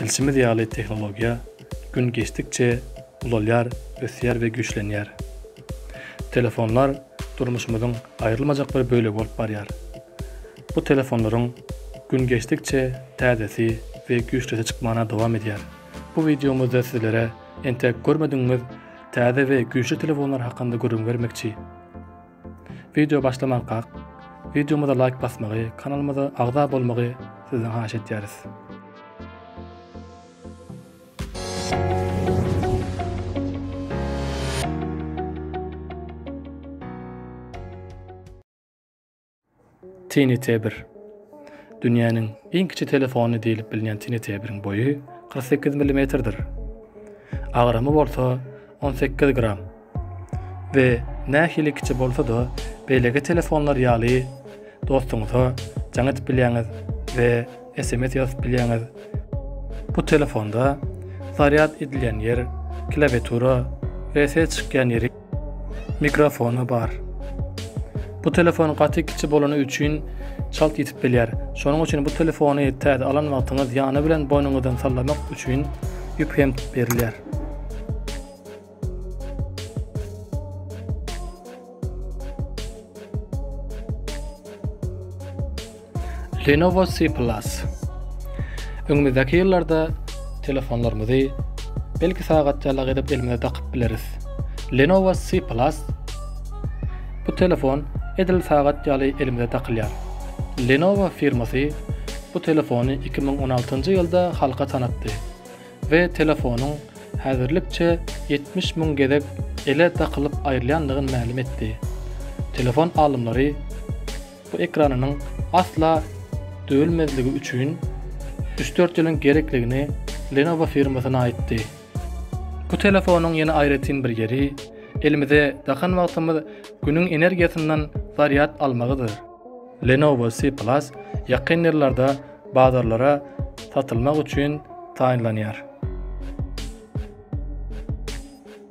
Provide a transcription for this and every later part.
Bilşimiz ýaly tehnologiýa gün geçdikçe ulalýar, ösýär we güýçlenýär. Telefonlar durmuşymyzyň aýrylmajak bir bölegi bolup barýar. Bu telefonlaryň gün geçdikçe täzesi we güýçlisi çykmana dowam edýär. Bu wideomyzda sizlere entek görmedigiňiz täze we güýçli telefonlar hakynda gürrüň bermekçi. Wideo başlamankak, wideomyza laýk basmagy, kanalymyza agza bolmagy sizden haýyş etýäris. Tiny Tebir. Dünýäniň iň kiçi telefony diýlip bilinýän Tiny Tebiriň boýy kyrk sekiz millimetrdir. Agramy bolsa on sekiz gram. We nähili kiçi bolsa-da, beýleki telefonlar ýaly dostuňyza jaň edip bilýäňiz we sms ýazyp bilýäňiz. Bu telefonda zarýad edilýän ýer, klawiatura we ses çykýan ýeri. Mikrofony bar. Bu telefon gaty kiçi bolany üçin çalt ýitip bilýär. Şonuň üçin bu telefony täze alan wagtyňyz ýany bilen boýnuňyzdan sallamak üçin ýüp hem berilýär. Lenovo C Plus. Öňümizdäki ýyllarda telefonlarymyzy belki sagatjalak edip elimize dakyp bileris. Lenovo C Plus. Bu telefon edil sagat ýaly elimize dakylýar. Lenovo firmasy bu telefony 2016-njy ýylda halka tanatdy we telefonyň häzirlikçe 70 müň gezek ele dakylyp aýrylýandygyny mälim etdi. Telefon alymlary Bu ekranynyň asla döwülmezligi üçin üç-dört ýylyň gerekligini Lenovo firmasyna aýtdy. Bu telefonyň ýene aýratyn bir ýeri, elimize dakan wagtymyz Günüň energiýasyndan zarýad almagydyr. Lenovo C Plus ýakyn ýyllarda bazarlara satylmak üçin taýynlanýar.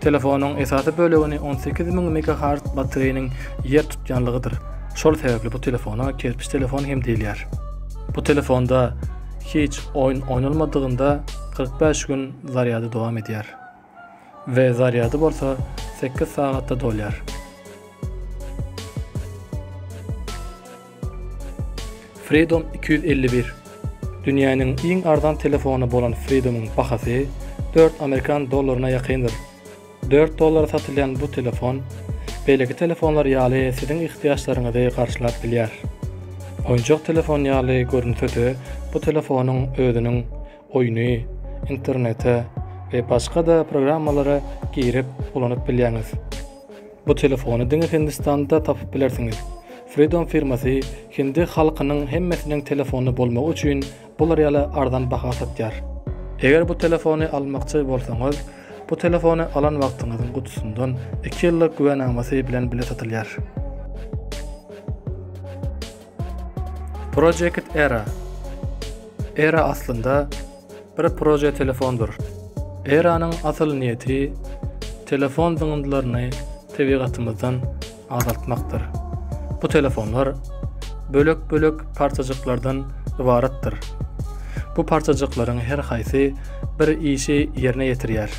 Telefonyň esasy bölegini on sekiz müň megahertz batareýanyň ýer tutýanlygydyr. Şol sebäpli bu telefona kerpiç telefon hem diýilýär. Bu telefonda hiç oýun oýnalmadygynda kyrk bäş gün zarýady dowam edýär we zarýady bolsa sekiz sagatda dolýar. Freedom iki ýüz elli bir Dünýäniň iň arzan telefony bolan Freedom-yň bahasy dört amerikan dollaryna ýakyndyr. Dört dollara satylýan bu telefon, beýleki telefonlar ýaly siziň ihtiýaçlaryňyzy garşylap bilýär. Oýunjak telefon ýaly görünse-de, bu telefonyň özüniň oýny, internete we başga-da programmalara girip ulanyp bilýäňiz. Bu telefony diňe Hindistanda tapyp bilersiňiz. Freedom firmasy hindi halkynyň hemmesiniň telefony bolmagy üçin bular ýaly arzan baha satýar. Eger bu telefony almakçy bolsaňyz, bu telefony alan wagtyňyzyň gutusyndan iki ýyllyk güwänamasy bilen bile satylýar. Project Era Era aslynda bir proje telefondyr. Eranyň asyl niýeti telefon zyňyndylaryny tebigatymyzdan azaltmakdyr. Bu telefonlar bölek-bölek parçajyklardan ybaratdyr. Bu parçajyklaryň her haýsy bir işi ýerine ýetirýär.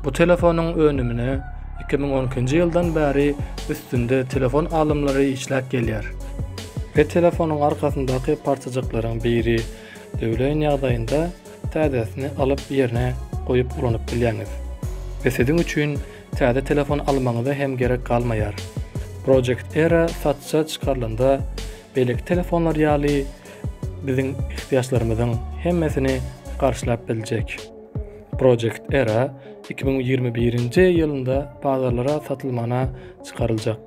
Bu telefonyň önümine iki müň on ikinji ýyldan bäri üstünde telefon alymlary işläp gelýär. Her telefonyň arkasyndaky parçajyklaryň biri Döwlen ýagdaýynda täzesini alyp ýerine goýup ulanyp bilýäňiz. We siziň üçin täze telefon almagyňyza hem gerek galmaýar. Project Era satja çykarylanda beýleki telefonlar ýaly biziň ihtiýaçlarymyzyň hemmesini garşylap biljek. Project Era iki müň ýigrimi birinji ýylynda bazarlara satylmana çykaryljak.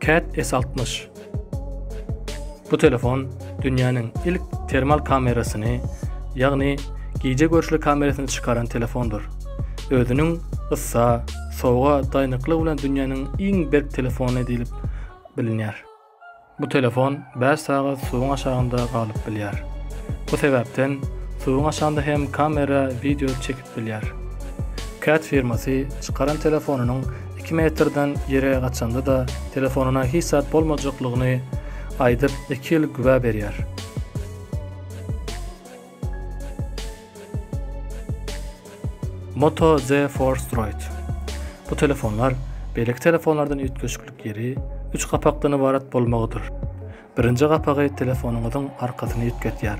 Cat S altmyş Bu telefon dünýäniň ilk termal kamerasyny, ýagny gije görüşli kamerasyny çykaran telefondyr. Özüniň yssa, sowuga daýnyklygy bilen dünýäniň iň berk telefony diýlip bilinýär. Bu telefon bäş sagat suwuň aşagynda galyp bilýär. Bu sebäpden suwuň aşagynda hem kamera wideo çekip bilýär. Cat firmasy çykaran telefonynyň iki metrden ýere gaçanda-da telefonyna hiç zat bolmajaklygyny aýdyp iki ýyl güwä berýär. Moto Z Force Droid Bu telefonlar beýleki telefonlardan üýtgeşiklik ýeri üç gapakdan ybarat bolmagydyr. Birinji gapagy telefonyňyzyň arkasyny üýtgetýär.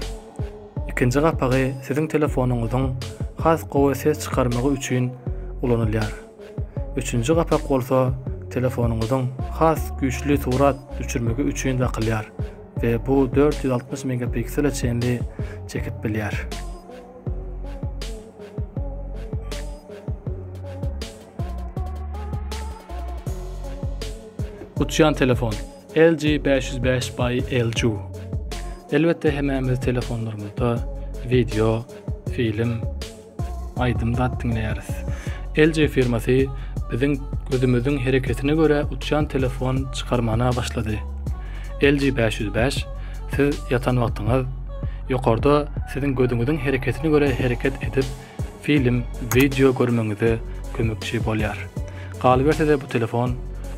Ikinji gapagy siziň telefonyňyzyň has gowy ses çykarmagy üçin ulanylýar. Üçünji gapak bolsa telefonyňyzyň has güýçli surat düşürmegi üçin dakylýar we bu dört ýüz altmyş megapiksele çenli çekip bilýär. Uçýan telefon LG 505 by LG. Elbetde hemämiz telefonlarymyzda wideo, film, aýdym zat diňleýäris. LG firmasy biziň gözümiziň hereketine görä uçýan telefon çykarmana başlady. LG 505 siz ýatan wagtyňyz ýokarda siziň gözüňiziň hereketine görä hereket edip Film, wideo görmegiňize kömekçi bolýar. Galyberse-de bu telefon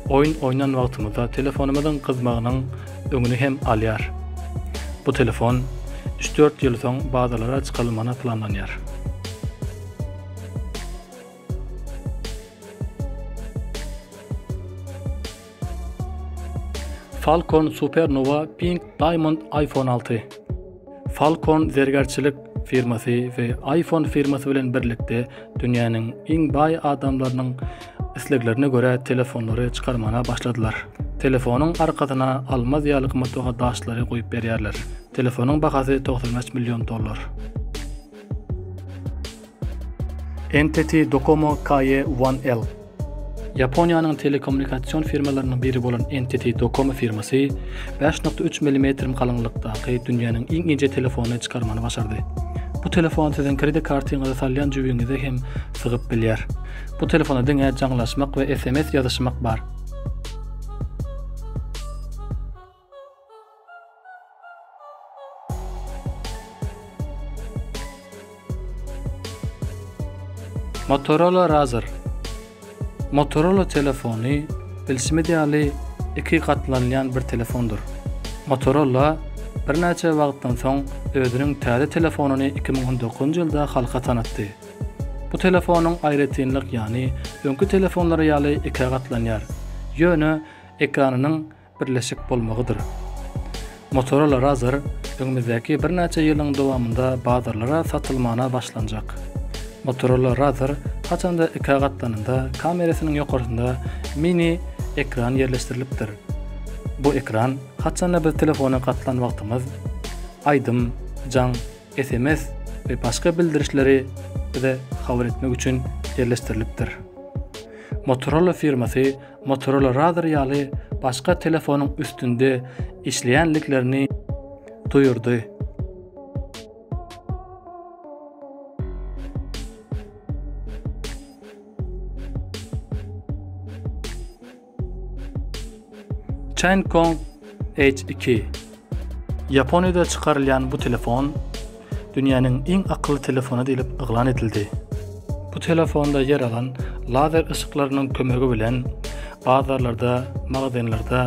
oýun oýnan wagtymyzda telefonymyzyň gyzmagynyň öňüni hem alýar. Bu telefon üç-dört ýyl soň bazarlara çykarylmagyna planlanýar. Falcon Supernova Pink Diamond iPhone 6. Falcon zergärçilik firmasy we iPhone firmasy bilen birlikde dünýäniň iň baý adamlarynyň isleglerine görä telefonlary çykarmana başladylar. Telefonyň arkasyna almaz ýaly gymmatbaha daşlary goýup berýärler. Telefonyň bahasy 95 million dollar. NTT Docomo KE One L. Ýaponiýanyň telekommunikasion firmalarynyň biri bolan NTT Docomo firmasy bäş nokta üç millimetrim galyňlykdaky dünýäniň iň inçe telefonyny çykarmany başardy. Bu telefon siziň kredit kartyňyzy salýan jübiňize hem sygyp bilýär. Bu telefonda diňe jaňlaşmak we sms ýazyşmak bar. Motorola Razr Motorola telefony bilşimiz ýaly iki gatlanylýan bir telefondyr. Motorola birnäçe wagtdan soň özüniň täze telefonyny iki müň on dokuzynjy ýylda halka tanatdy. Bu telefonyň aýratynlyk ýany öňki telefonlary ýaly ikä gatlanýar, ýöne ekranynyň birleşik bolmagydyr. Motorola Razr öňümizdäki birnäçe ýylyň dowamynda bazarlara satylmana başlanjak. Motorola Razr haçanda ikä gatlanynda kamerasynyň ýokarsynda mini ekran ýerleşdirilipdir. Bu ekran haçanda biz telefona gatlan wagtymyz aýdym, jaň, sms we başga bildirişleri bize habar etmek üçin ýerleşdirilipdir. Motorola firmasy Motorola Razr ýaly başga telefonyň üstünde işleýändiklerini duýurdy. Chain Kong H2 Ýaponiýada çykarylýan bu telefon dünýäniň iň akylly telefony diýlip yglan edildi. Bu telefonda ýer alan lazer yşyklarynyň kömegi bilen bazarlarda, magazinlerde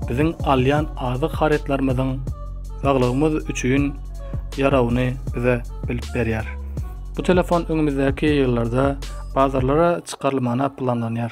biziň alýan azyk harytlarymyzyň saglygymyz üçin ýarawny bize bilip berýär. Bu telefon öňümizdäki ýyllarda bazarlara çykarylmagyna planlanýar.